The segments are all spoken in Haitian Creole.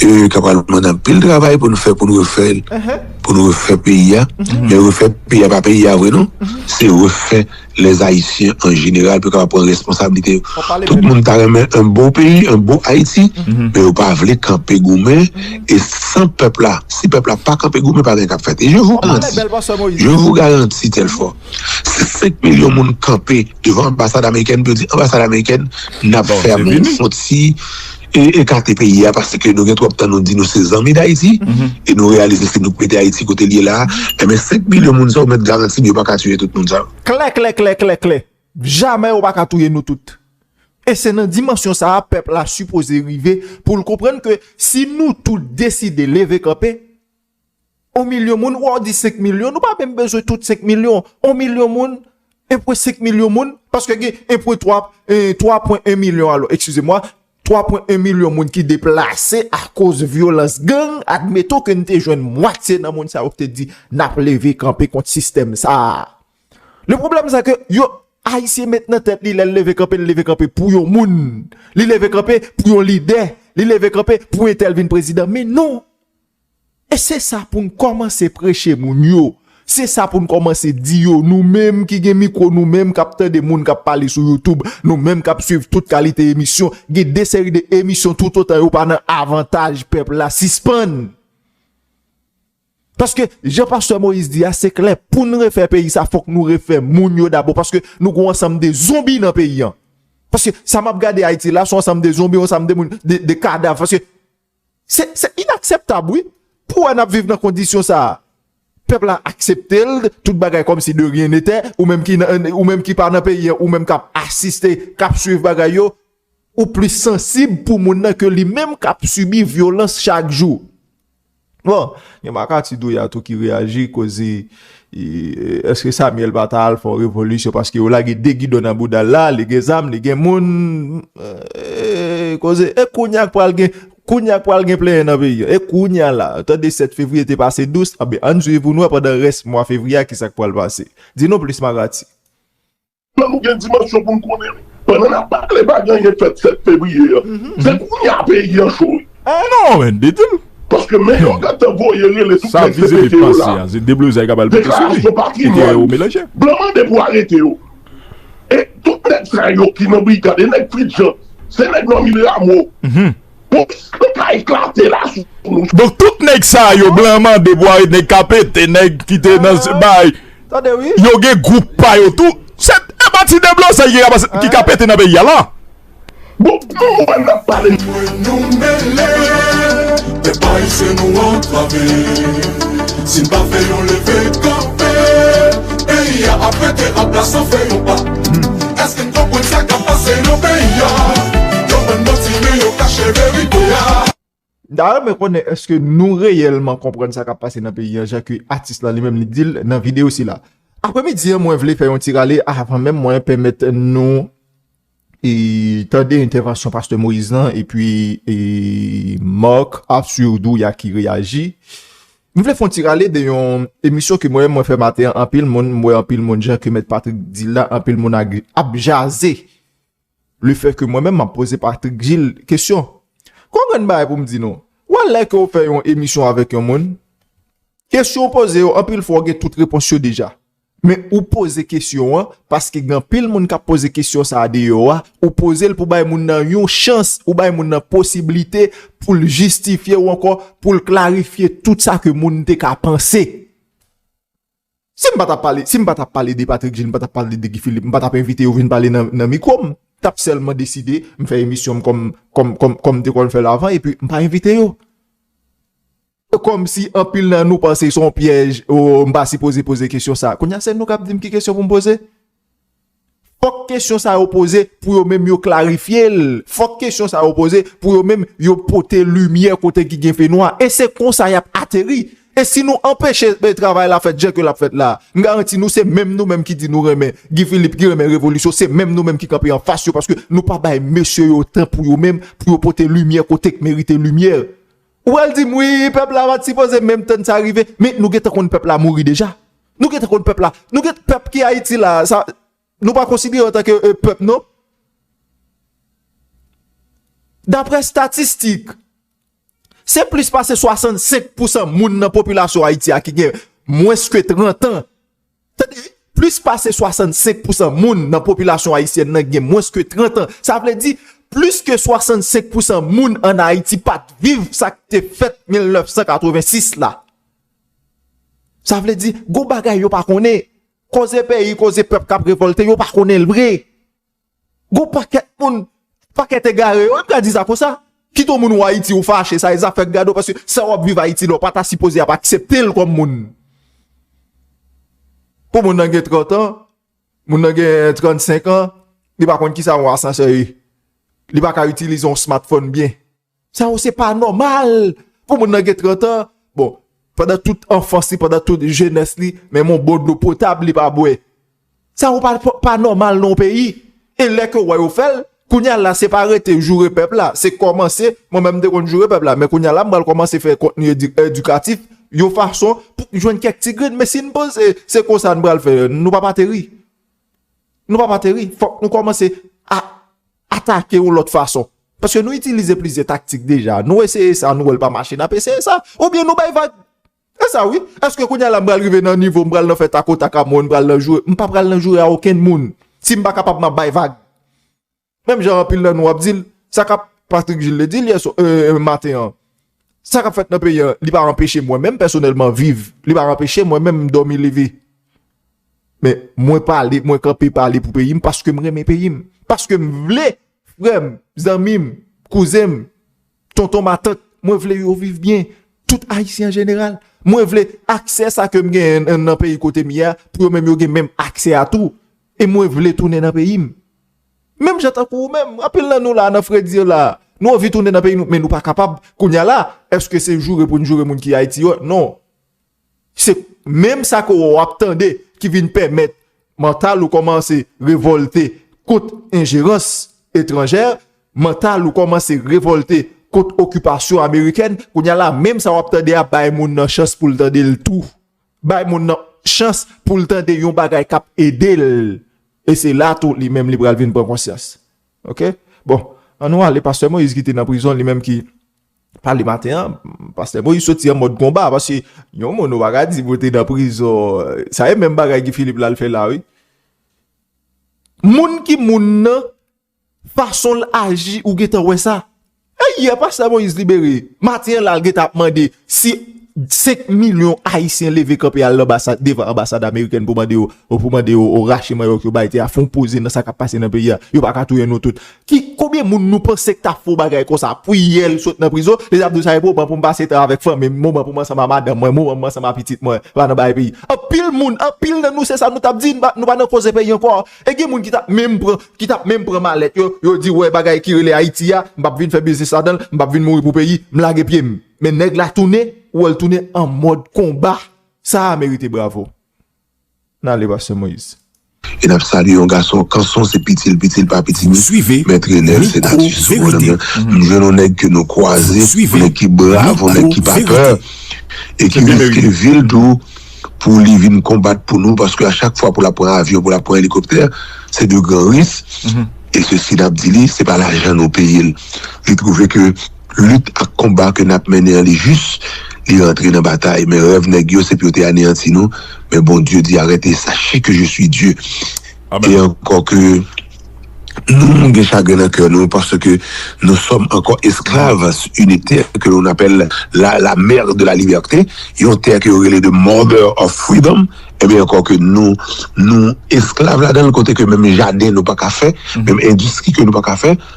E ka pral mande anpil travay pou n fè pou n refè l, pou n refè peyi a. Men refè peyi a pa peyi a vre non, se refè lèzayisyen an jeneral pou yo kapab pran responsablite yo. Tout moun ta renmen yon bon peyi, yon bon Ayiti, men yo pa vle kanpe goumen. E san pèp la, si pèp la pa kanpe goumen, pa gen k ap fèt. E je vou garanti, je vou garanti Telfò, si 5 milyon moun kanpe devan anbasad amerikèn pou yo di anbasad amerikèn n ap fèmou yon ti. e ekate peyi a paske nou gen twòp tan nou di nou se zanmi Dayiti e nou reyalize se nou k mete Ayiti kote l ye la a enben 5 milyon moun sa yo mèt garanti m yo pa ka tiye tout moun sa yo. Klèklèklèklèklè! Jamè yo pa ka touye nou tout! E se nan dimansyon sa a pèp la sipoze rive pou l konprann ke si nou tout deside leve kanpe, On milyon moun, wè w di 5 milyon, nou pa menm bezwen tout 5 milyon. On milyon moun, 1.5 milyon moun, paske gen 1.3, 3.1 milyon alò, ekskize mwa, 3.1 milyon moun ki deplase akoz vyolans gang, admeton ke n te jwenn mwatye nan moun sa yo ki te di n ap leve kanpe kont sistèm sa a. Le pwoblèm se ke yo, Ayisyen met nan tèt li lè l leve kanpe, l leve kanpe pou yon moun. Li leve kanpe pou yon lidè. Li leve kanpe pou entèl vin prezidan. Men non! E se sa pou n kòmanse preche moun yo. Se sa pou n kòmanse di yo, nou menm ki gen mikwo, nou menm k ap tande moun k ap pale sou Youtube, nou menm k ap suiv tout kalite emisyon. Gen de seri de emisyon toutotan yo pa nan avantaj pèp la, sispann. Paske, jan pastè Moïse di a, se klè, pou n refè peyi sa, fòk nou refè moun yo dabò. Paske, nou gen yon ansanm de zonbi nan peyi an. Paske, sa m ap gade Ayiti la, se yon ansanm de zonbi, yon ansanm de moun, de kadav. Paske, Se inakseptab wi pou wè nap viv nan kondisyon sa a. Pèp la aksepte l tout bagay kòm si de rien nete ou menm ki nan ou menm ki pa nan peyi an ou menm kap asiste kap swiv bagay yo ou plis sansib pou moun nan ke li menm kap sibi vyolans chak jou. Bon gen makati doya tou ki reyaji koz Eske Samuel pa ta al fè yon revolisyon paske yo lage 2 gidon nan boudal la, li gen zam, li gen moun, eee koze, e kounya k pral gen, kounya k pral gen plenyen nan peyi an, e kounya la, ou tande 7 fevriye te pase dous, anben ann swiv pou n wè pandan rès mwa fevriye a kisa k pral pase. Di nou plis Marati. Plan nou gen dimansyon pou n konnen wi. Pandan n ap pale pa gen anyen k fèt 7 fevriye an. Se kounye a peyi an cho wi. Oh non men di di l. Paske men yo gentan voye rele tout nèg CPT yo la. Deklarasyon patrimwàn. Blan mande pou arete yo. E tout nèg sa yo ki nan brigad e nèg Fritjan se nèg Normil Rameau. Mwen ka eklate la sou nou. Donk tout nèg sa yo blan mande pou arete nèg ka pete nèg ki te nan bay yo gen gwoup pa yo tou se pa ti deblozay ki ka pete nan peyi a la. Bon pou nou menm nap pale. Mwen nou mele e pa ese nou antrave si n pa fè yon leve kanpe peyi a ap rete apla san fè yon pa. Èske n konprann sa kap pase nan peyi a? Yo bann manti men yo kache verite a. M ta renmen konnen èske nou reyèlman konprann sa kap pase nan peyi a jan ke atis lan li menm li di l nan videyo sila. Apremidi an mwen vle fè yon ti rale avan menm mwen pèmèt nou tande entèvansyon pastè Moïse lan epi Marc Arthur Douya ki reyaji M vle fon ti rale de yon emisyon ke mwen menm mwen fè maten an, anpil moun, m wè anpil moun jan ke mèt Patrick di l la, anpil moun ap jaze le fè ke mwen menm m ap poze Patrick Gilles kesyon. Konprann bagay pou m di nou, wè lè ke w fè yon emisyon avèk yon moun, kesyon w poze yo anpil fwa w gen tout repons yo deja. Men ou poze kesyon an paske gen anpil moun kap poze kesyon sa deyò a, ou pozel pou bay moun nan yon chans, ou bay moun nan posiblite poul jistifye ou ankò poul klarifye tout sa ke moun te ka panse. Sim patap pale, sim patap pale de Patrick Gilles, m patap pale de Guy Philippe, m patap envite yo vin pale nan mikwo m, tap sèlman deside m fè emisyon m kòm kòm kòm m te konn fèl avan epi m pa envite yo. Kòmsi anpil nan nou panse se yon pyèj, oo m pa sipoze poze kesyon sa. Kounye a se nou k ap di m ki kesyon pou m poze? Fòk kesyon sa yo poze pou yo menm yo klarifye l, fòk kesyon sa yo poze pou yo menm yo pote limyè kote ki gen fenwa. E se konsa y ap ateri. E si nou anpeche travay la fèt jan ke l ap fèt la, m garanti nou se menm nou menm ki di nou renmen Guy Philippe, ki renmen revolisyon, se menm nou menm ki kanpe anfas yo paske nou pa bay mesye yo tan pou yo menm pou yo pote limyè kote k merite limyè. Ou pral dim wi pèp la pat sipoze menm tann sa rive men nou gentan konn pèp la mouri deja nou gentan konn pèp la nou gen pèp ki ayiti la sa nou pa konsidere antanke pèp non daprè statistik se plis pase 65 pousan moun nan popilasyon ayiti a ki gen mwens ke 30 an Tande, plis pase 65 pousan moun nan popilasyon ayisyèn nan gen mwens ke 30 an. Sa vle di, plis ke 65 pousan moun an Ayiti pa t viv sa k te fèt 1986 la. Sa vle di, gon bagay yo pa konnen. Koze peyi, koze pèp k ap revòlte, yo pa konnen l vre. Gon pakèt moun, pakèt egare yo, m ka di sa konsa, kit ou moun ou Ayiti ou fache, sa e zafè gad ou paske sa wap viv Ayiti la ou pa ta sipoze ap aksepte l kòm moun. Pou moun nan gen 30 an, moun nan gen 35 an, li pa konn kisa yon asansè ye. Li pa ka itilize yon smartphone byen. Sa yo se pa nòmal pou moun nan gen 30 an. Bon, pandan tout anfans li, pandan tout jenès li, menm yon bon dlo potab li pa bwè. Sa yo pa nòmal nan yon peyi. E lè ke wè yo fè l, kounye a la se pa rete joure pèp la, se kòmanse, mwen menm m te konn joure pèp la, men kounye a la m pral kòmanse fè kontni edikatif, yon fason pou m jwenn kèk ti grenn. Men si n panse se konsa n pral fè, nou p ap ateri. Nou p ap ateri. Fòk nou kòmanse a. atake yon lòt fason. Paske nou itilize plizyè taktik deja. Nou eseye sa, nou wè l pa mache, n ap eseye sa. Oubyen nou bay vag. Se sa wi. Eske kounye a la m pral rive nan nivo, m pral nan fè takotak a moun, m pral nan joure. M pa pral nan joure a okenn moun. Si m pa kapab m ap bay vag. Menm jan anpil nan nou ap di l, sa k ap, Patrick Gilles te di l yè swa, ee, maten an. Sa k ap fèt nan peyi an, li pa anpeche mwen menm pèsonèlman viv. Li pa anpeche mwen menm dòmi leve. Men mwen pale, mwen kanpe pale pou peyi m paske m renmen peyi m. Paske m vle frè m, zanmi m, kouzen m, tonton matant, mwen vle yo viv byen. Tout ayisyen an jeneral. Mwen vle aksè sa ke m gen nan peyi kote m ye a pou yo menm yo gen menm aksè a tou. E mwen vle tounen nan peyi m. Menm jan tankou ou menm, anpil nan nou la nan fredi la. Nou anvi tounen nan peyi nou men nou pa kapab. Kounya la, eske se joure pou n joure moun ki ayiti yo? Non. Se menm sa ke ou ap tande ki vin pèmèt mantal ou kòmanse revòlte kont enjerans etranjè, mantal ou kòmanse revòlte kont okipasyon amerikèn. Kounye a la, menm sa ou ap tande a, bay moun nan chans pou l tande l tou. Bay moun nan chans pou l tande yon bagay k ap ede l. E se la tou li menm li pral vin pran konsyans. Ok? Bon, an nou ale, Pastè Moïse ki te nan prizon li menm ki. Pale maten an, pastè Moïse soti an mòd konba, paske yon moun ou pa ka di pou te nan prizon, sa e menm bagay Guy Philippe la l fè la wi. Moun ki moun nan, fason l aji ou gen tan wè sa. E yè pastè Moïse libere, maten an la l gen tan ap mande si 5 milyon ayisyen leve kanpe al devan anbasad amerikèn pou mande yo rache manyòk yo bay te a, fon poze nan sa k ap pase nan peyi a, yo pa ka touye nou tout. Ki konbyen moun nou panse ki ta fè yon bagay konsa priyel sot nan prizon li tap di sa e moman poum pase tan avèk fanmim moman poum ansanm a madanm mwen moman poum ansanm a pitit mwen pa nan bay peyi anpil moun anpil nan nou se sa nou tap di nou pa nan koze peyi ankò e gen moun ki tap menm pran ki tap menm pran malèt yo yo di wè bagay ki rele ayiti a m pap vin fè biznis ladanl m pap vin mouri pou peyi m lage pyem men nèg la tounen ou wèl tounen an mòd konba sa a merite bravo. N ale pastè moyiz. E nap salye yon gason kanson se pitil pitil pa pitimi mèt renel se natif sou bonòm nan m jwenn yon nèg ke nou kwaze yon nèg ki brav yon nèg ki pa pè e ki riske vil tou pou li vin konbat pou nou paske a chak fwa pou lap pran avyon pou lap pran elikoptè se de gran ris e sesi nap di li se pa lajan nou peyel li twouve ke Lit ak konba ke nap mennen an li jis, li rantre nan batay, men rèv nèg yo se pou yo te aneyanti nou, men Bondye di arete sache ke je suis Dieu e ankò ke nou gen chagren nan kè nou paske nou sòm ankò esklav une terre que l'on appelle la la mère de la liberté yon tè ke yo rele the mother of freedom ebyen ankò ke nou nou esklav ladanl kote ke menm jaden nou paka fè menm endistri ke nou paka fè.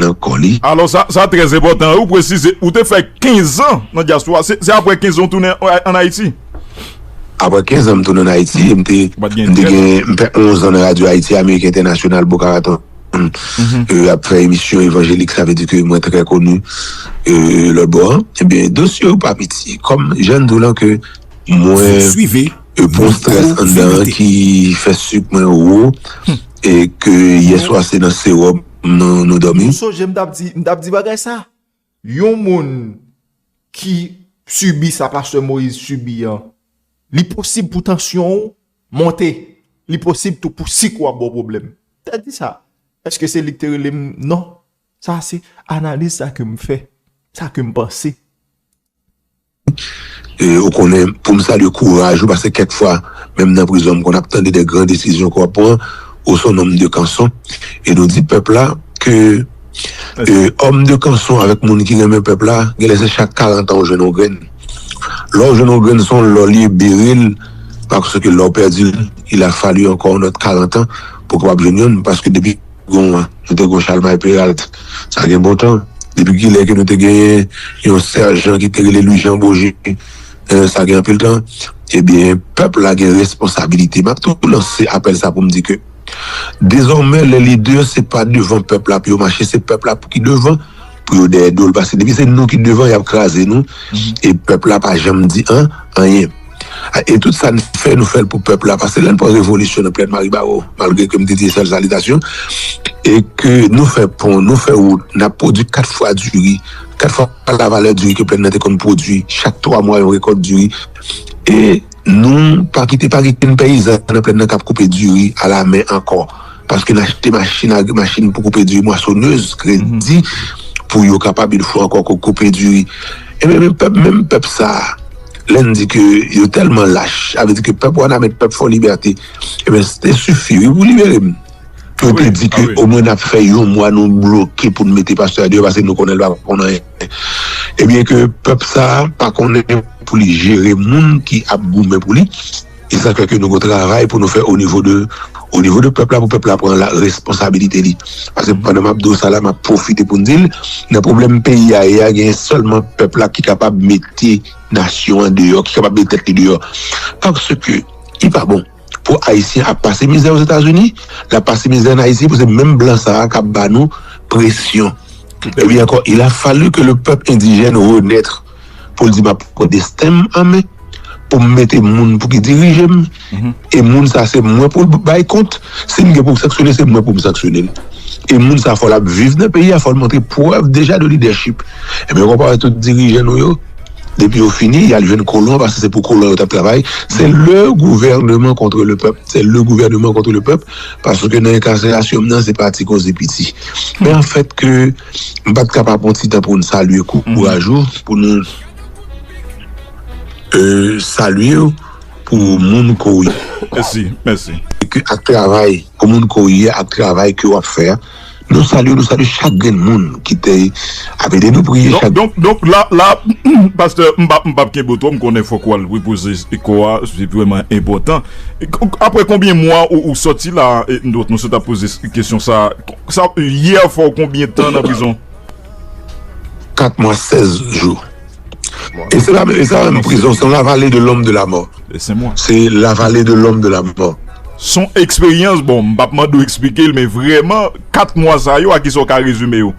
nan kò li. Alò sa sa trè enpòtan wi ou presize ou te fè 15 an nan dyaspora se aprè 15 an ou tounen an Ayiti? Aprè 15 an m tounen an Ayiti e m te m te gen m fè 11 an nan radyo Ayiti Ameriken Entènasyonal Boca Raton e ap fè emisyon evanjelik sa vle di ke mwen trè koni e lòt bò an ebyen dosye yo pa piti kòm jan n di w lan ke mwen e pon strès anndan an ki fè sik mwen wo e ke yèswa se nan sewòm m nan nou domi. Ou sonje m tap di m tap di bagay sa yon moun ki sibi sa pastè Moïse sibi an li posib pou tansyon ou monte li posib tou pou sik ou a baw pwoblèm m ta di sa eske se lik te rele m non sa se analiz sa kem fè sa kem panse e ou konnen poum salye kouraj ou paske kèk fwa menm nan prizon m konn ap tande de gran desizyon ke wap pran ou son nonm de kanson e nou di pèp la ke e òm de kanson avèk moun ki renmen pèp la genlè se chak 40 an ou jwenn yon grenn lè ou jwenn yon grenn son lò li beril paske lè ou pèdil il a falu ankò yon lòt 40 an pou kapab jwenn yonn paske depi. Gon an, nou te gon Chalmay Peralt. Sa gen bontan. Depi kilè ke nou te genyen yon sèjan ki te rele Lwi Jan Boje? Sa gen anpil tan. Ebyen, pèp la gen responsabilite. M ap tou lanse apèl sa pou m di ke dezòmè lè lidè se pa devan pèp la pou yo mache, se pèp la pou ki devan, pou yo dèyè do l. Paske depi se nou ki devan, y ap kraze nou. E pèp la pa janm di an, anyen. E tout sa n fè, nou fè l pou pèp la. Pase lè n pran revolisyon nan Plèn Maribaro, malgre ke m te di sèl salitasyon, e ke nou fè pon, nou fè wout, n ap pwodui kat fwa diri, kat fwa lavalè diri ke Plèn nan te konn pwodui, chak twa mwa yon rekòt diri. E nou pa kite, pa gen okenn peyizan nan Plèn nan k ap koupe diri alamen ankò. Paske n achte machin agri, machin pou koupe diri, mwasonèz, kredi, pou yo kapab, yon fwa ankò, koupe diri. Enben, menm pèp sa a. Lè n di ke yo tèlman lach, sa vle di ke pèp Wanament, pèp Fò Libète, enben se te sifi wi pou libere m. Ke yo te di ke omwen n ap fè yon mwa nou bloke pou n mete pastè a deyò paske nou konnen l pa konn anyen. Ebyen ke pèp sa a pa konnen pou li jere moun ki ap goumen pou li. E sa fè ke nou gen yon travay pou nou fè o nivo de, o nivo de pèp la pou pèp la pran la responsabilite li. Paske pandan m ap di w sa la, m ap pwofite pou m di l, nan pwoblèm peyi a ye a, genyen sèlman pèp la ki kapab mete nasyon an deyò, ki kapab mete tèt li deyò. Paske li pa bon pou Ayisyen ap pase mizè Ozetazini, l ap pase mizè ann Ayiti pou se menm blan sa a k ap ba nou presyon. Ebyen ankò, il a fallu que le peuple indigène renaître. pou l di m ap pran desten m an men, pou m mete moun pou ki dirije m, e moun sa se mwen pou l bay kont, si m gen pou m sanksyone se mwen pou m sanksyone l. E moun sa fò l ap viv nan peyi a, fò l montre prèv deja de lidèchip. Ebyen konpare tout dirijan nou yo, depi yo fini y al jwenn kolon paske se pou kolon yo t ap travay, se le gouvèneman kontre le pèp, se le gouvèneman kontre le pèp, paske nan enkaserasyon m nan se pa ti koze piti. Men an fèt ke. M pat ka pa pran ti tan pou n salye kou kouraj ou pou nou salye w pou moun ke w ye ak travay pou moun ke w ye ak travay ke w ap fè a nou salye w nou salye chak grenn moun ki te ap ede nou priye chak grenn moun donk la pastè m pap kenbe w twò m konnen fòk wal repoze kò a se vrèman enpòtan aprè konbyen mwa ou sòti la nou sot ap poze kesyon sa Hier fè w konbyen tan nan prizon? 4 mwa 16 jou. E se la e sa menm prizon se la vale de lom de la mò. Se la vale de lom de la mò. Son eksperyans bon m pap mande w eksplike l men vreman 4 mwa sa yo a kisa w ka rezime yo?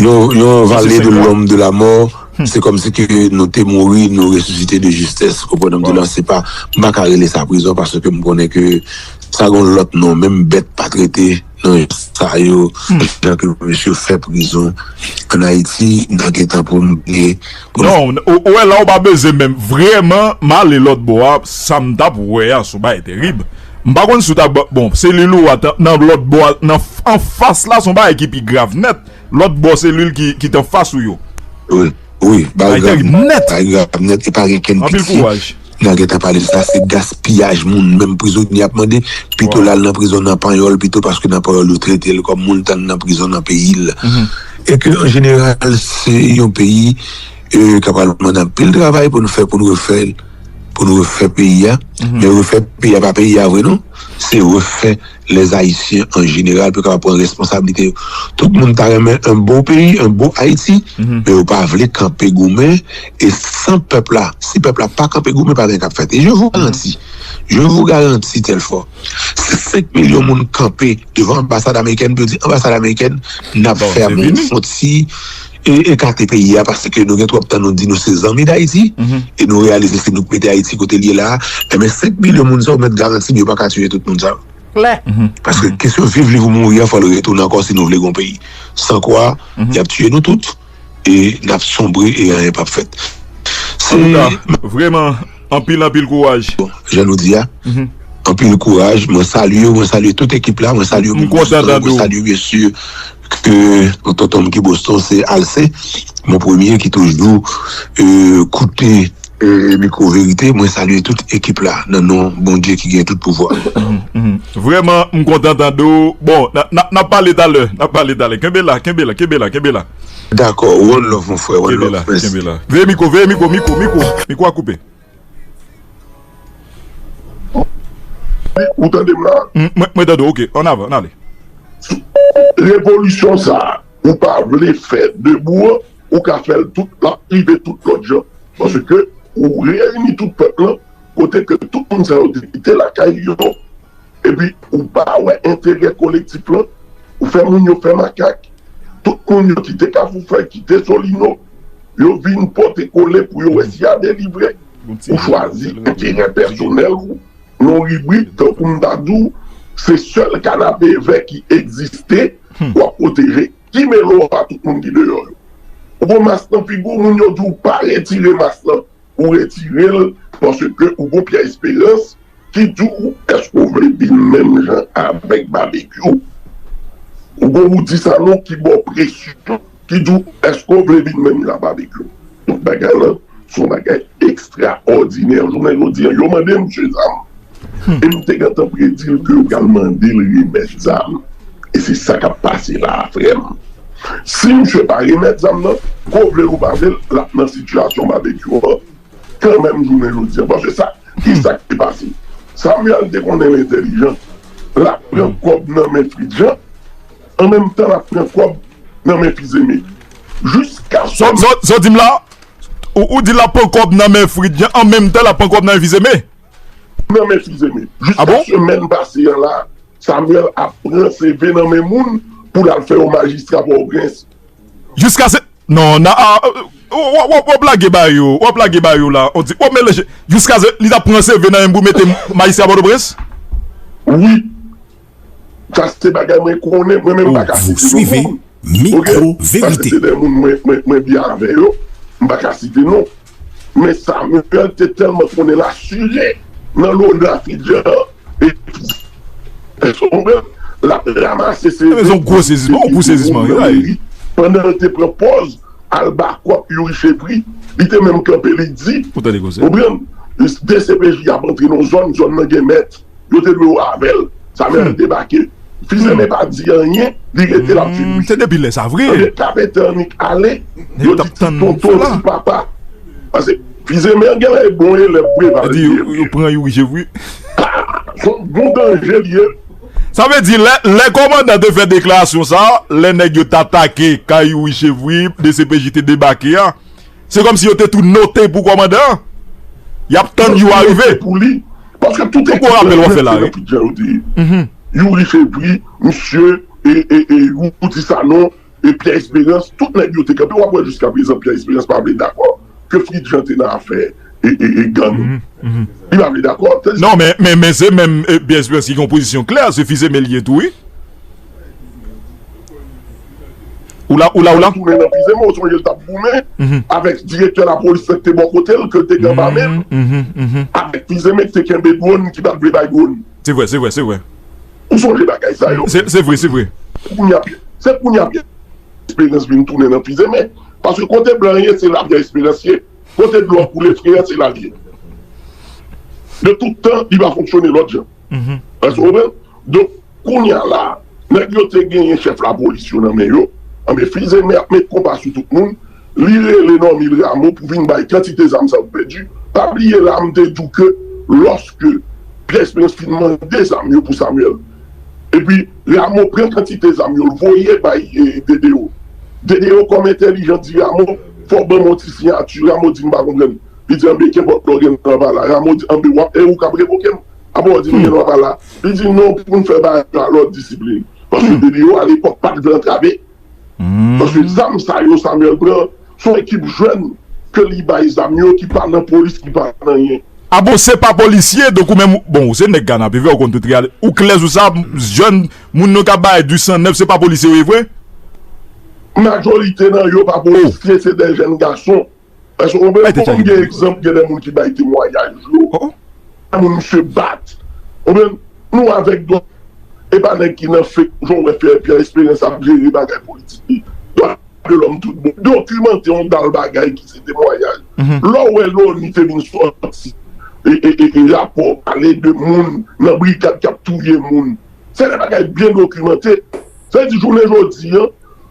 Yon vale de lom de la mò se komsi ke nou te mouri nou resisite de jistes ou konprann sa m di w la se pa m pa ka rele sa prizon paske m konnen ke sa gon lot non menm bèt pa trete nan jan sa yo jan ke mesye fè prizon an ayiti nan gentan pou nou vle pou nou. Non ou wè la ou pa beze menm vrèman m ale lot bò a sa m tap wè a son bagay terib m pa konn si w ta bon selil ou a nan lot bò a nan anfas la son bagay ki pi grav nèt lot bò selil ki t anfas ou yo. Wi bay grab nèt e pa gen kenn pitye nan gen ta pale sa se gaspiyaj moun menm prizonye ap mande pito lal nan prizon nan panyòl pito paske nan panyòl yo tretel kòm moun tan nan prizon nan peyil e ke an jeneral se yon peyi ka pral mande anpil travay pou nou fè pou nou refè pou nou refè peyi a men refè peyi a pa peyi a vre non se refè les haïtiens en général pou yo kapab pran responsabilité yo tout moun ta renmen un beau pays un beau Haïti men yo pa vle kanpe goumen et sans pèp la si pèp la pa kanpe goumen pa gen kap fèt et je vous garanti je vous garanti Telfort si 5 millions moun kanpe devan anbasad américaine pou yo di anbasad américaine nap fèmen yon ti e ekate peyi a paske nou gen twòp tan nou di nou se zanmi Dayiti e nou reyalize se nou k mete Ayiti kote l ye la a enben 5 milyon moun sa w mèt garanti m yo pa ka tiye tout moun sa yo klè paske kesyon viv liv ou mouri a fò l retounen ankò si nou vle gen yon peyi san kwa y ap tiye nou tout e n ap sonbre e anyen p ap fèt se antouka vrèman anpil anpil kouraj bon jan nou di a anpil kouraj mwen salye w mwen salye tout ekip la mwen salye w m kontan tande w. ke yon tonton m ki Boston se Alcé mon premier ki toujou koute mikwo verite mwen salye tout ekip la nan non Bondye ki gen tout pouvwa. Vrèman m kontan tande w bon nap pale talè nap pale talè kenbe la kenbe la kenbe la kenbe la. Dakò one love mon frè one love kenbe la kenbe la veye mikwo veye mikwo mikwo mikwo mikwo a koupe. Ou tande m la? Mwen tande w ok, an avan, an ale. Revolisyon sa a ou pa vle fè debou an, ou ka fè l tout, l ap rive tout lòt jan. Paske ou reyini tout pèp lan kote ke tout moun sa yo te kite lakay yo. Epi ou pa wè enterè kolektif lan, ou fè moun yo fè makak, tout moun yo kite Kafoufèy, kite Solino, yo vin pote kole pou yo wè si ya delivre, ou chwazi enterè pèsonèl ou, yon ribrik tankou m ta di w se sèl kanapevè ki egziste w ap pwoteje, ki mele w a tout moun ki deyò yo. Ou gon mas nan figu w, moun yo di w pa retire mas lan, ou retire l paske ou gon pyè esperans Didou eske w vle vin menm jan avek babekyou ou gon woudi sa non ki baw presyon didou eske w vle vin menm jan a babekyou donk bagay lan son bagay ekstra òdinè jounen jodi an yo mande misye zam e m te gentan predi l ke yo pral mande l remèt zam e se sa kap pase la a frè m si misye pa remèt zam nan ke w vle l ou pa vle l lap nan sitiyasyon babekyou an. kanmenm jounen jodi an paske sa kisa ki te pase Samuel te konnen li entèlijan lap pran kòb nan men Fritjean an menm tan lap pran kòb nan men Fils-Aimé jiska sò. Sa w di m la Ou di lap pran kòb nan men Fritjean an menm tan lap pran kòb nan men Fils-Aimé? Nan men Fils-Aimé jiska semèn pase an la Samuel ap pran CV nan men moun pou lal fè yo majistra Pòtoprens. Jiska se non nan a wap wap lage ba yo wap lage ba yo la on di wap melanje jiska se li tap pran CV nan menm pou mete mayisyen a pòtoprens. Wi sa se bagay mwen konnen mwen menm paka site non moun ok paske se de moun mwen mwen mwen byen avè yo m paka site non. Men Samuel te tèlman konnen l asire nan lona Fidjan an epi Jason pran l, l ap ramase seve epi di moun nan meri pandan l te pran pòz albakòp Youri Chevry, li te menm kanpe li di, konprann, dcpj ap antre nan yon zòn, zòn nan gen mèt. Yo te dwe wè avèl. Samuel debake. Fils aimé pa di anyen, li rete lap vin wi. Se depi lè sa vre. Ebyen kapetan annik ale, yo di ti tonton ti papa. Pase fils aimé an genlè e bon elèv Preval li ye wi. Yo pran youri je wi. Haa son bon danje li ye. Sa vle di lè kòmandan te fè deklarasyon sa, lè nèg yo t atake kay youri chevri dcpj te debake a. Se kòmsi yo te tou note pou kòmandan an. Y ap tann jou a rive. Yon gwo rapèl w ap fè la wi. Youri Fevri, misye, Roody Sanon, Pierre Esperance, tout nèg yo te kanpe. W ap wè jiskaprezan Pierre Esperance pa vle dakò ke Fritjean te nan afè gang. Li pa vle dakò. Non men, men se menm Pierre Esperance ki gen yon pozisyon klè. Se fils aimé li ye tou wi. Oula oula oula. Tounen nan vize mwen ou sonje l tap goumen avèk direktè lapolis lan ki te bò kote l ke l te gen anba men l avèk vize men ki te kenbe dwòn ki pat vle bay dwòn. Se vre se vre se vre. Ou sonje bagay sa yo. Se vre se vre. Kounya pyè se kounya pyè esperans vin tounen nan vize men paske kote blan an ye se la pyè esperans ye kote dlo a koule fre an se la l ye de tout tan li pa fonksyone lòt jan. Èske ou konprann? Donk, kounye a la, nèg yo te genyen chèf lapolis yo nan men yo, anben Fils-Aimé ap met konpa sou tout moun, li rele Normil Rameau pou vin bay kantite zam sa yo pèdi, pa bliye la m te di w ke lòske Pierre Espérance fin mande zam yo pou Samuel, epi Rameau pran kantite zam yo l voye bay DDO, DDO kòm entèlijan di Rameau fò w ban mwen yon ti siyati, Rameau di m pa konprann. Li di anbe kenpòt lè w gen lwa pa la. Ramo di anbe w ap e ou k ap revoke m apre w di nou gen lwa pa la. Li di non pou n fè bagay la lòd disiplin. Paske depi yo alepòk pa t vle antrave. Paske zam sa yo Samuel pran s on ekip jèn ke li bay zam yo ki pa nan polis ki pa nan anyen. A bon se pa polisye donk ou menm bon ou se nèg kanapevè ou konn tout reyalite ou klè sou sa jèn moun nou k ap bay du san nèf se pa polisye yo ye vre? Majorite nan yo pa polisye se de jèn gason Eske ou byen konprann gen egzanp gen de moun ki bay temwanyaj yo de moun misye bat ou byen nou avek dwa e pa neg ki nan fek jan ou we fe pierre esperance ap jere bagay politik li dwa de lom tout bon dokimante yon dal bagay ki se temwanyaj le ou we loni te vin soti e rapo pale de moun nan brigad kap touye moun se de bagay byen dokimante sa vle di jounen jodi an